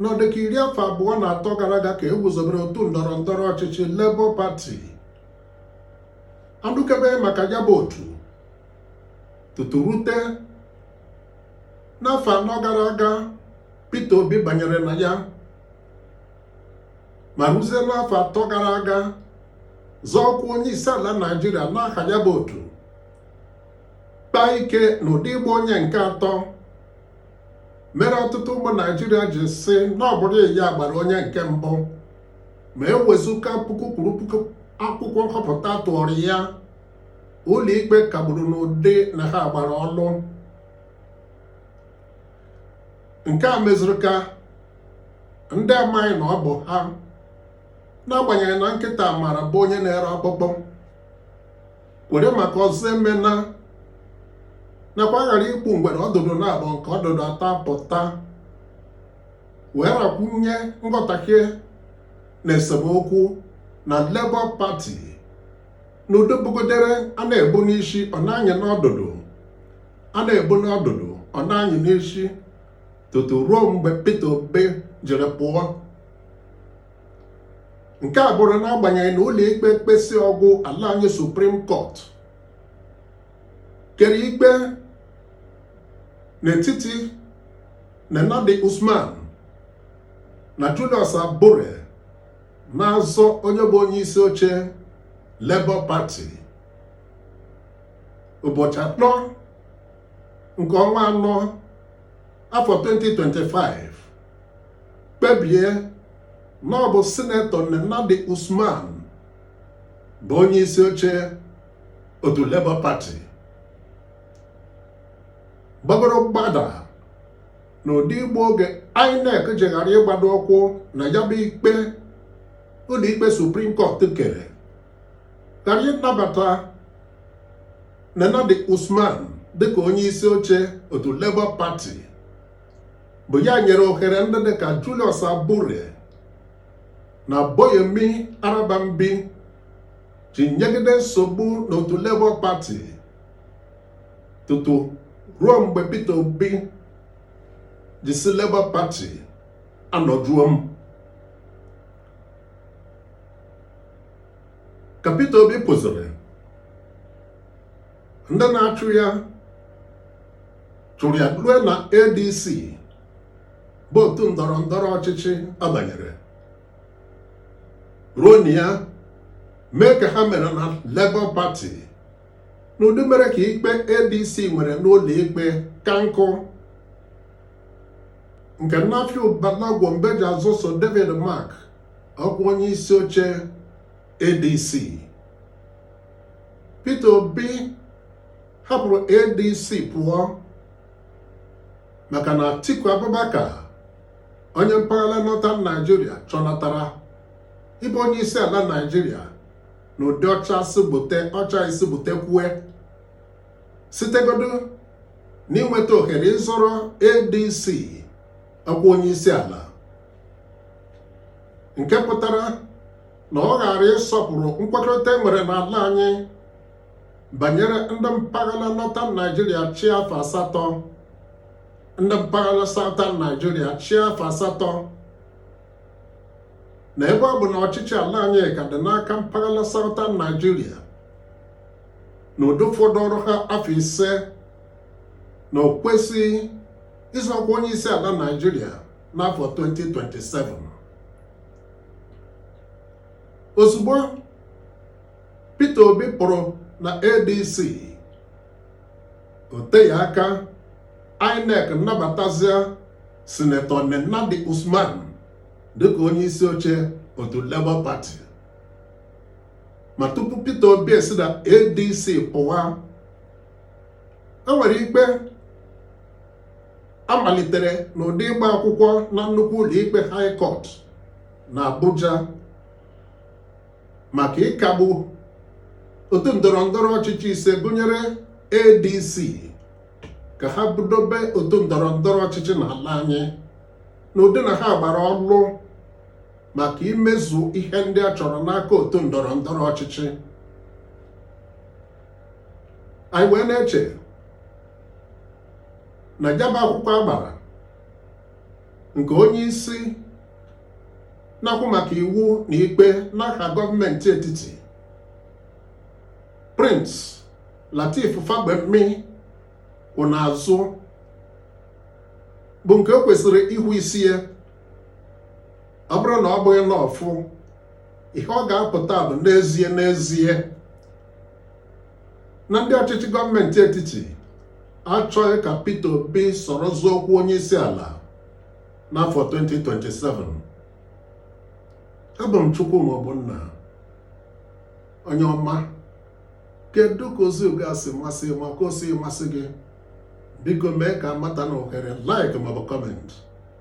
n'ọdịka iri afọ abụọ na atọ gara aga ka e guzobere otu ndọrọ ndọrọ ọchịchị Labour Party a nụkebeghị maka ya bụ otu tutu rute n'afọ anọ gara aga Peter Obi banyere na ya ma ruzie n'afọ atọ gara aga zọọ ọkwa onye isi ala Naịjirịa n'aha ya bụ otu kpaa ike n'ụdị ịgba onye nke atọ mere ọtụtụ ụmụ Naịjirịa ji sị na ọ bụrụ ya gbara onye nke mbụ ma e wezuga puku kwuru puku akwụkwọ nhọpụta a tụụrụ ya ụlọikpe kagburu n'ụdị na ha gbara ọlụ nke a mezuru ka ndị amaghị na ọ bụ ha n'agbanyeghị na nkịta marabu onye na-ere ọkpụkpụ were maka ọzọ emena nakwa a ghara igbu ngwere ọdụdụ naabọ nke ọdụdụ atọ apụta wee ghakwunye nghọtahie na esemokwu na Labour Party na udo bugodere a na-ebu n'isi ọ na-anyị n'ọdụdụ a na-ebu n'ọdụdụ ọ na-anyị n'isi tutu ruo mgbe Peter Obi jiri pụọ nke a bụrụ n'agbanyeghị na ụlọ ikpe ekpesịa ọ gwụ ala anyị Supreme Court kere ikpe n'etiti Nenadi Usman na Julius Abure na-azọ onye bụ onye isi oche Labour Party ụbọchị anọ nke ọnwa anọ afọ 2025 kpebie na ọ bụ sinetọ Nenadi Usman bụ onye isi oche otu Labour Party gbagoro mgbada na ụdị igbu oge INEC ji ghara ịgbado ụkwụ na ya bụ ikpe ụlọikpe Supreme Court kere ghara ịnabata Nenadi Usman dịka onye isi oche otu Labour Party bụ ya nyere ohere ndị dị ka Julius Abure na Abayomi Arabambi ji nyegide nsogbu n'otu Labour Party tutu ruo mgbe Peter Obi ji sị Labour Party anọjuo m chụrụ ya rue na ADC bụ otu ndọrọ ndọrọ ọchịchị a banyere ruo na ya mee ka ha mere na Labour Party n'ụdị mere ka ikpe ADC nwere n'ụlọ ikpe ka nkụ nke Nafiu Bala Gombe ji azọso David Mark ọkwa onye isi oche ADC Peter Obi hapụrụ ADC pụọ maka na Atiku Abubakar onye mpaghara Northern Nigeria chọnatara ịbụ onye isi ala Nigeria n'ụdị ọ cha sị gbute ọ chaghị sị gbute kwue sitegodị n'inweta ohere ịzọrọ ADC ọkwa onye isi ala nke pụtara na ọ ghara ịsọpụrụ nkwekọrịta e nwere n'ala anyị banyere ndị mpaghara northern Nigeria chịa afọ asatọ ndị mpaghara southern Nigeria chịa afọ asatọ na ebe ọ bụ na ọchịchị ala anyị ka dị n'aka mpaghara southern Nigeria n'ụdị ọ fọdụụrụ ha afọ ise na o kwesịghị ịzọ ọkwa onye isi ala Nigeria n'afọ 2027 ozugbo Peter Obi pụrụ na ADC o teghị aka INEC nabatazia sinetọ Nenadi Usman dịka onye isi oche otu Labour Party ma tupu Peter Obi esi na ADC pụwa e nwere ikpe a malitere n'ụdị ịgba akwụkwọ na nnukwu ụlọikpe High Court na Abuja maka ịkagbu otu ndọrọ ndọrọ ọchịchị ise gụnyere ADC ka ha bụdobe otu ndọrọ ndọrọ ọchịchị n'ala anyị n'ụdị na ha gbara ọlụ maka imezu ihe ndị a chọrọ n'aka otu ndọrọ ndọrọ ọchịchị anyị wee na-eche na ya bụ akwụkwọ a gbara nke onye isi na-ahụ maka iwu na ikpe n'aha gọọmenti etiti Prince Lateef Fagbemi kwụ n'azụ bụ nke o kwesịrị ịhụ isi ya ọ bụrụ na ọ bụghị n'ọfụ ihe ọ ga-apụta bụ n'ezie n'ezie na ndị ọchịchị gọọmenti etiti achọghị ka Peter Obi soro zọọ ọkwa onye isi ala n'afọ 2027 abụ m Chukwuma Ogbonna onye ọma kedu ka ozi uga si masị gị ma ka o sighị masị gị biko mee ka a mata na ohere like maọbụ comment